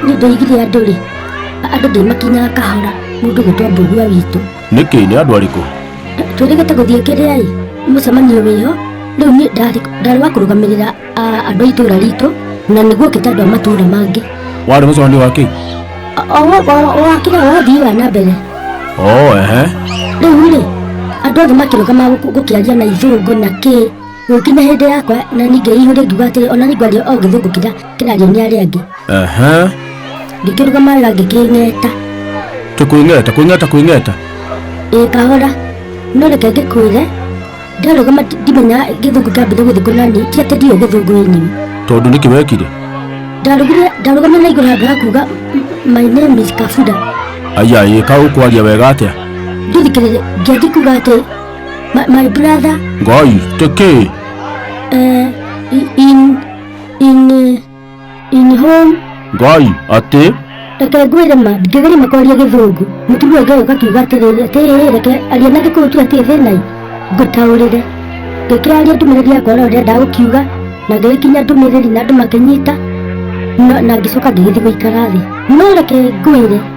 nĩ ndoigire andũ rĩ andũ ndĩmakinyaga kahora mũndũ gĩtwa mbũgua witũ nĩkĩ nĩ andũ arĩkũ twĩrĩgĩte gũthiĩ kĩrĩa rĩ mũcemanio wĩho rĩu niĩ ndarĩ wa kũrũgamĩrĩra andũ a itũra ritũ na nĩguo kĩta andũ a matũra mangĩ warĩ mũcemanio wa kĩ wakĩra wa ũthii wa na mbere oo ehe rĩu rĩ andũ othe makĩrũgama gũkĩaria na ithũngũ na kĩ Gũkinya hĩndĩ yakwa na ningĩ ihũrĩ ngiuga atĩrĩ ona nĩngwaria o gĩthũngũ kĩrĩa kĩrario nĩ arĩa angĩ. Aha. Ngĩkĩrũgama wega ngĩkĩng'eta. Tũkwĩng'eta, kwĩng'eta, kwĩng'eta. Ĩĩ kahora. No reke ngĩkwĩre ndarũgama ti- ndimenya gĩthũngũ kĩambire gũthiĩ kũ na niĩ ti atĩ ndiũĩ gĩthũngũ ĩ nyini. Tondũ nĩkĩ wekire? Ndarũgire ndarũgama na igũrũ handũ ha kuuga "M- my name is Kabuda. Aya ĩka ũkwaria wega atĩa? Ndithikĩrĩria ngĩanji kuuga atĩ My, my brother. Guys, take care. Uh, in in uh, in home. Guy, ate. Reke ngwĩre ma, ndingĩgeria makwaria gĩthũngũ. Mũtumia Ngai ũka kiuga atĩrĩrĩ, atĩrĩrĩ, reke aria na gĩkũyũ tu atĩ thĩna ngũtaũrĩre. Ngĩkĩra aria ndũmĩrĩri yakwa ũrĩa ũrenda gũkiuga, na ngĩgĩkinya ndũmĩrĩri na andũ makĩnyita, na ngĩcoka ngĩgĩthiĩ gũikara thĩ. No reke ngwĩre,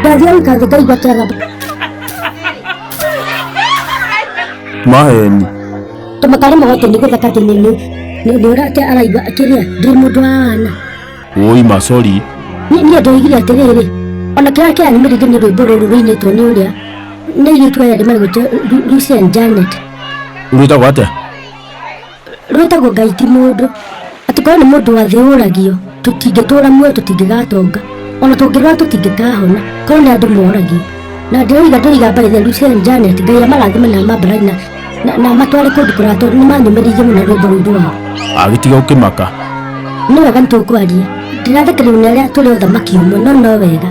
Ndangĩaruta thĩ ngaigua kĩara. Maheni. Tũmatare magoti nĩ gũthaka atĩ nĩ nĩ nĩ nĩ ũrate araigua kĩrĩa ndĩ mũndũ wa wana. Woi macori. Niĩ niĩ ndoigire atĩrĩrĩ ona kĩrĩa kĩra nĩ mĩrĩndĩ nĩ rwĩmbo rũrũ rũinĩtwo nĩ ũrĩa nĩ airĩtu aya ndĩmarĩgwĩte Lucy and Janet. Rwĩtagwo atĩa? rwĩtagwo ngai ti mũndũ atĩ korwo nĩ mũndũ wathĩũragio tũtingĩtũra muoyo tũtingĩgatonga ona tũngĩrwara tũtingĩkahona korwo nĩ andũ moragio na ndĩroiga ndĩroiga mbarĩ theru cia janet ngai amarathima na mambarathi na- na- na matware kũndũ kũraya tondũ nĩ manyũmĩrĩirie mũno rwĩmbo rũu rwao agĩtiga ũkĩmaka nĩ wega nĩ tũkwaria ndĩrathekereria nĩ arĩa tũrĩ ũthamaki ũmwe no no wega